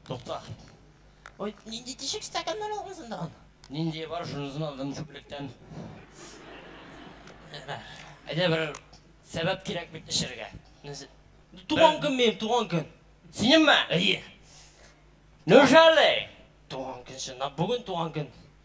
Тукта. Ой, нинди тишек стаканнар алгансың да? Нинди бар, шунысын алдым чүплектән. Әйдә бер сәбәп кирәк бит эчәргә. Туган көн минем, туган көн. Синемме? Әйе. Неужели? Туган көн чынлап, бүген туган көн.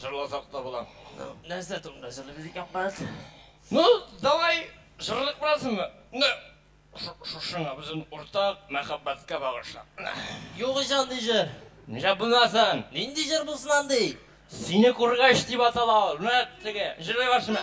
Жырласак та була. Нәрсә турында жырлыйбыз икән, брат? Ну, давай жырлык буразыңмы? Менә шушыңа безнең уртак мәхәббәткә багышлап. Юк ич андый җыр. Ничә булмасын? Нинди җыр булсын андый? Сине күргәч дип атала ул. Менә теге җырлый башына.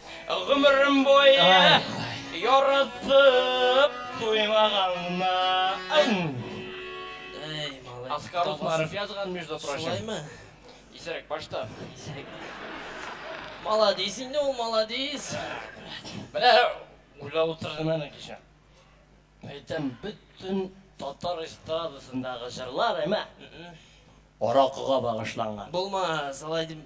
Гомерем буе яратып туймаганна. Оскар Усманов язган, между прочим. Шулаймы? Исерек башта. Исерек. Маладис инде ул, маладис. Менә уйлап утырдым әле кичә. Әйтәм, бөтен татар эстрадасындагы җырлар әмә аракыга багышланган. Булмас, алай дип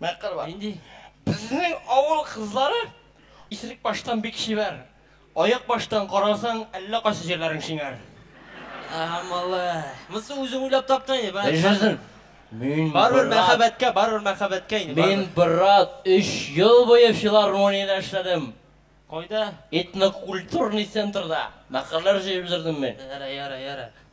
Мәкер бар. Нинди? Безнең авыл кызлары исерек баштан бик чибәр. Аяк баштан карасаң, әллә кайсы җирләрең шиңәр. Ага, малай. Монысы үзең уйлап таптың инде, брат. Яшәсен. Мин, брат. Барыбер мәхәббәткә, барыбер мәхәббәткә инде, барыбер. Мин, брат, өч ел буе филармониядә эшләдем. Кайда? Этнокультурный центрда мәкерләр җыеп йөрдем мин. Ярый, ярый, ярый.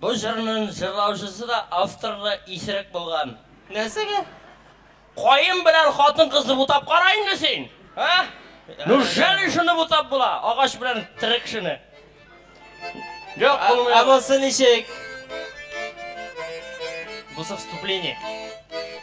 Бу җырнын җырлаучысы да, авторы да исерек булган. Нәрсәгә? Каен белән хатын кызны бутап кара инде син! А? Ну жали шуны бутап була, агач белән терек шуны. Юк, булмый. Ә булсы ничек? Булсы вступление.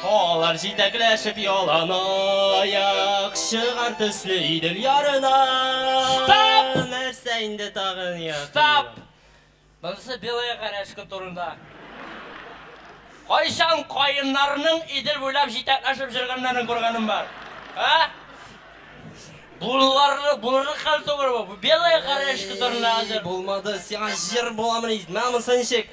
Алар җитәкләшеп яланаяк чыгар төсле Идел ярына. Стоп! Нәрсә инде тагын якынрак? Стоп! Монысы Белая Карәшка турында. Кайчан каеннарның Идел буйлап җитәкләшеп җөргәннәрен күргәнең бар? Ә? Булырлык, булырлык хәл түгел бу. Бу Белая Карәшка турында хәзер. Булмады, сиңа җыр буламыни? Менә монысы ничек?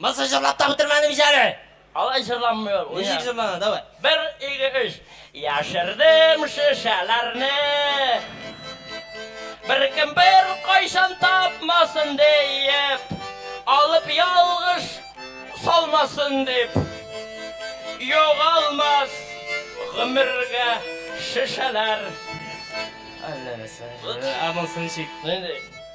Мысы җырлап та бетермәдем ич әле. Алай җырланмый ул. Ничек җырлана, давай. Бер, ике, өч. Яшердем шешәләрне. Беркем бер кайчан тапмасын диеп. Алып ялгыш салмасын дип. Югалмас гомергә шешәләр. Әллә нәрсә. Ә монысы ничек? Нинди?